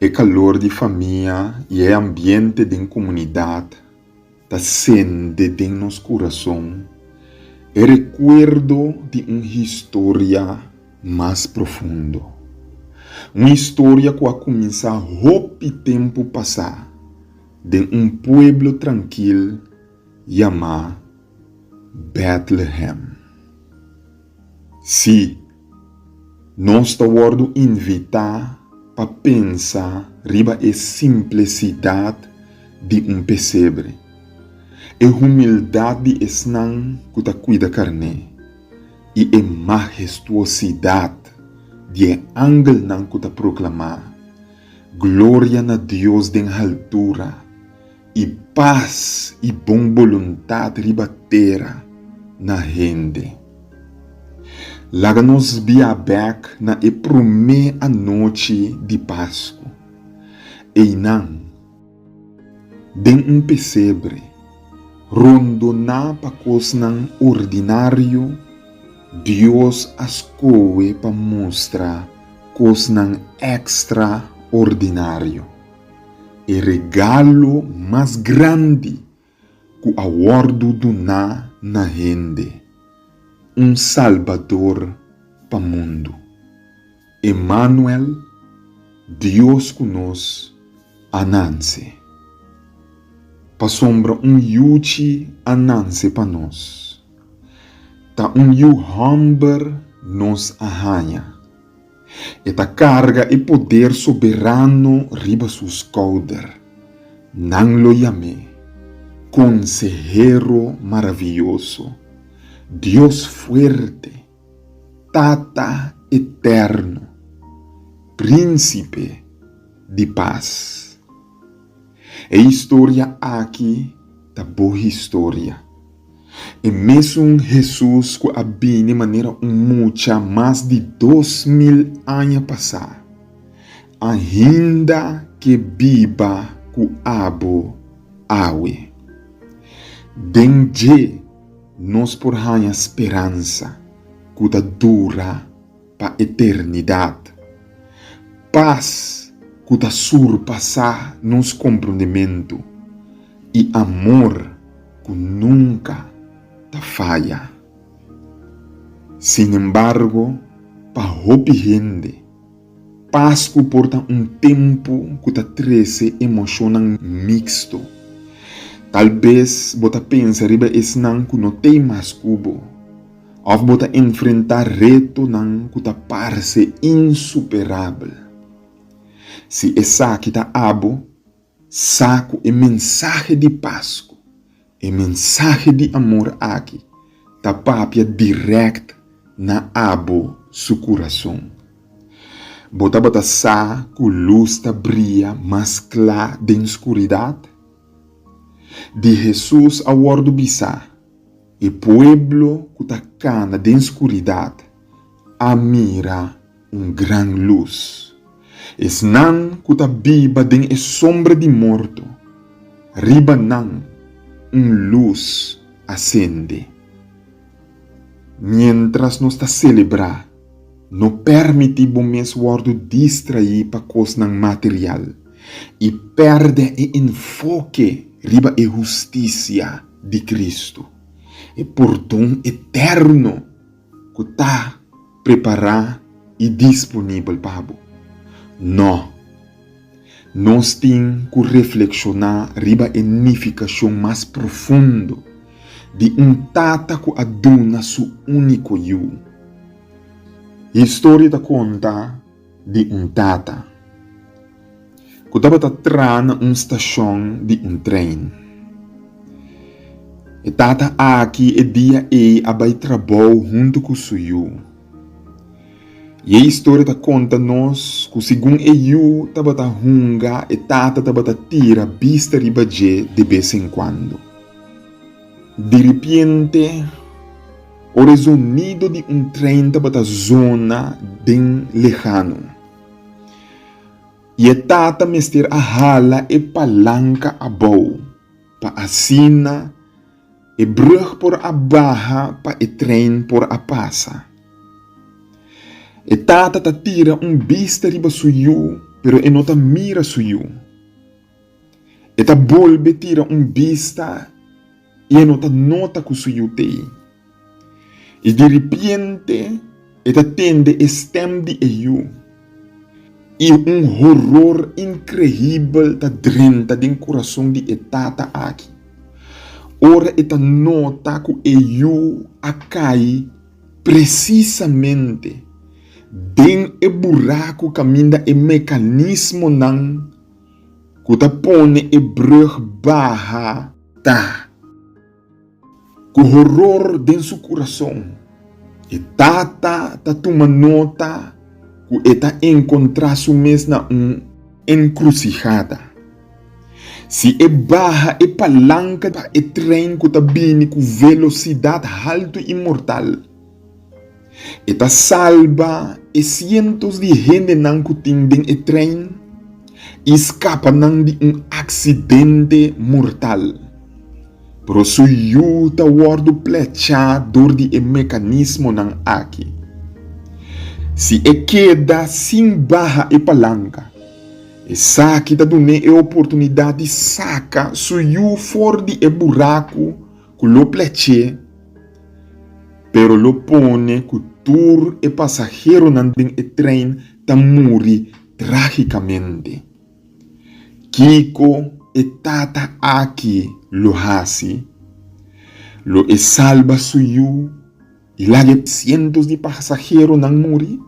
E kalor di famia i e ambiente den komunidat ta sende den nos kurason e rekuerdo di un historia mas profundo. Un historia ku a kuminsá hopi tempu pasá den un pueblo trankil yamá Bètlehèm. Sí, nos ta wòrdu invitá pa pensa riba e simplesidat di un pesebre, e humildat di esnan ku ta kuida karné i e mahestuosidat di e angelnan ku ta proklamá, Gloria na Dios den haltura, I pas i bon boluntat riba tera na hende. Laga nos bia bek na e promé anochi di Pasku. Einan, den un pesebre, rondoná pa kosnan ordinario Dios a skohe pa mustra kosnan ekstraordinario. E regalo mas grandi cu a wordo duna na hende, un Salbador pa mundo. Emmanuel, Dios cu nos, a nance. Pasobra un yuchi a nance pa nos, ta un yu homber nos a haña. E ta karga e poder soberano riba su skouder. Nan lo yam'é, Konsehero Maravioso, Dios Fuerte, Tata Eterno, Prínsipe di Pas. E historia aki ta bo historia. E mesun Hesus cu a bini manera un mucha mas di dos mil aña pasá, ainda ke biba cu abo awe. Den dje nos por haña speransa cu ta dura. pa eternidat. Pas ku ta surpasá nos komprondementu i amor ku nunka ta faya. Sinembargo, pa hopi hende, Pasku por ta un tempu ku ta trese emoshonnan miksto. Tal bes bo ta pensa riba esnan ku no t'ei mas ku bo. Òf bo ta enfrentá retonan ku ta parse insuperabel? Si esaki ta abo, sa ku e mensahe di pas ku e mensahe di amor aki ta papia dirèkt na abo su kurason. Bo tabata sa ku lus ta bria mas kla den skuridat? Di Hesus a wòrdu bisá. E pueblo cu ta cana den scuridat a mira un gran luz. Esnan cu ta biba den e sombra di morto, riba nan un luz a cende. Mientras nos ta celebra No permití bo mes wòrdu distraí pa kosnan material i pèrdè e enfoke riba e hustisia di Kristu, e pordon eterno ku ta prepará i disponibel pa bo. Nò! Nos tin ku reflekshoná riba e nifikashon mas profundo di un tata ku a duna su úniko yu. Historia ta konta di un tata ku tabata tra na un stashon di un tren. E tata aki e dia ei a bai trabou huntu ku su yu. I e historia ta konta nos ku segun e yu tabata hunga, e tata tabata tira bista riba dje de bes en kuando. Diripiente, ora e zonido di un tren tabata zona den lehano, i e tata mester a hala e palanka abou pa asina E brug por a baha pa e trein por a pasa. E tata ta tira un bista riba su yu, pero e no ta mira su yu. E ta bolbe tira un bista i e no ta nota ku su yu t'ei. I diripiente e ta tende e stèm di e yu, i un horor inkreibel ta drenta den kurason di e tata aki ora e ta nota ku e yu a kai presisamente den e buraku kaminda e mekanismonan ku ta pone e brùg baha ta. Ku horor den su kurason, e tata ta tuma nota ku e ta enkontrá su mes na un enkrusihada. Si e baha e palanka pa e tren ku ta bini ku velosidat haltu i mortal, E ta salba e sientos di hendenan ku tin den e trein i skapa nan di un aksidente mortal. Pero su yu ta wòrdu plechá dor di e mekanismonan aki. Si e keda sin baha e palanka, esaki ta dun'é e oportunidat di saka su yu for di e buraku ku lo plech'é, pero lo pone ku tur e pasaheronan den e trein ta muri trágikamente. Kiko e tata aki lo hasi? Lo e salba su yu i laga e sientos di pasaheronan muri?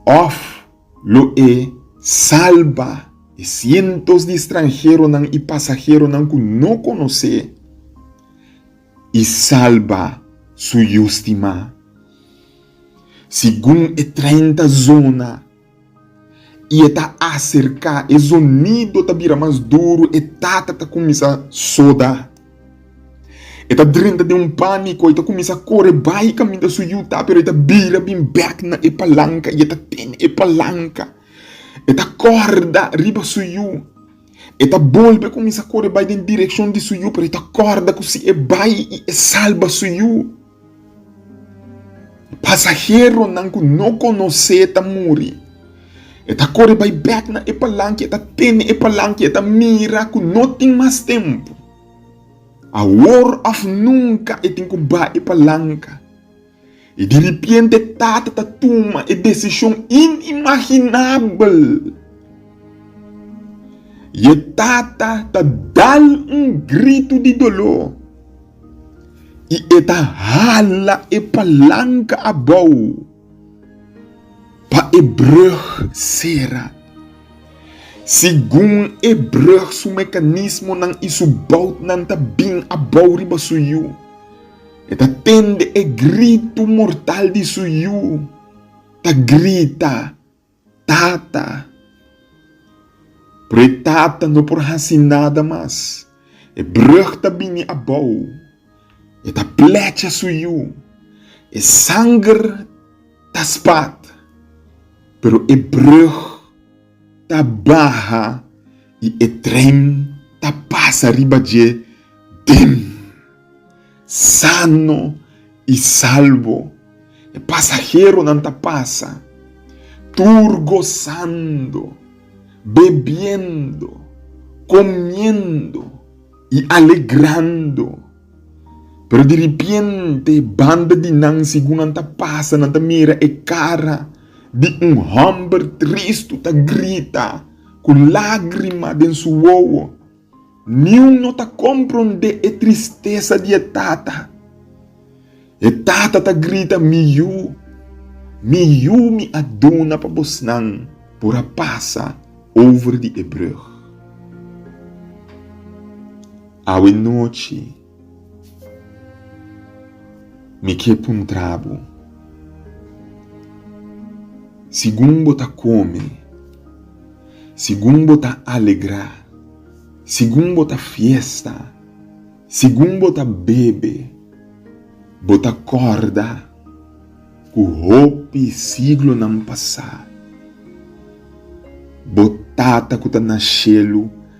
Òf Lo e salba e sientos di stranheronan i pasaheronan ku no konos'é, i salba Su Yu stimá. Segun e treinta zona, i e ta aserká, e zonido ta bira mas duru, e tata ta kuminsá soda. E ta drenta den un pániko, e ta kuminsá kore bai kaminda su yuta, pero e ta bira bin bèk na e palanka i e ta tene e palanka. E ta kòrda riba su yu, e ta bolbe kuminsá kore bai den direkshon di su yu, pero e ta kòrda ku si e bai i e salba su yu. Pasaheronan ku no konos'é ta muri. E ta kore bai bèk na e palanki, e ta tene e palanki, e ta mira ku no tin mas tempu. Awor òf nunka e tin ku bai e palanka. I diripiente e tata ta tuma e desishon inimaginabel. I e tata ta dal un gritu di doló. i e ta hala e palanka abou pa e brùg sera. Segun e brùg su mekanismonan i su boutnan ta bin abou riba su yu, e ta tende e gritu mortal di su yu ta grita. Tata, pero e tata no por hasi nada mas. E brug ta bini abou. E ta plecha su yu. E sanger ta spat, pero e brug ta baha i e tren ta pasa riba dje dem. sano i salbo. E pasaheronan ta pasa tur gosando, bebiendo, komiendo i alegrando. Pero diripiente e banda di nan, segun nan ta pasa, nan ta mira e kara di un hòmber tristu ta grita ku lágrima den su wowo. Niun no ta komprondé e tristesa di e tata. E tata ta grita, Mi yu, mi yu mi a duna pa bosnan por a pasa over di e brug. Awe nochi. Mi ke puntrabu, Sigun bo ta kome, sigun bo ta alegra, sigun bo ta fiesta, sigun bo ta bebe, bo ta korda ku hopi siglonan pasá, bo Tata ku ta na shelu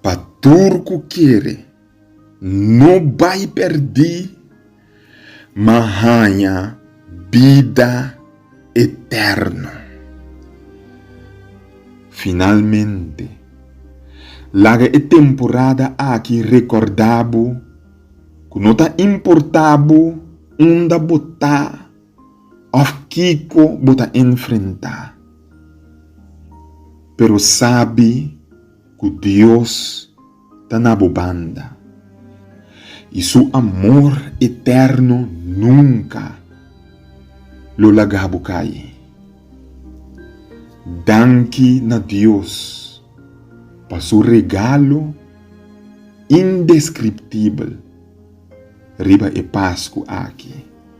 Pa tur ku kere no bai pèrdí, ma haña bida eterno. Finalmente, laga e temporada aki rekòrda bo ku no ta importá bo unda bo ta. Òf kiko bo ta enfrentá, pero sabi ku Dios ta na bo banda, i Su amor eterno nunka lo laga bo kai. Danki na Dios pa Su regalo indeskriptibel riba e Pasku aki.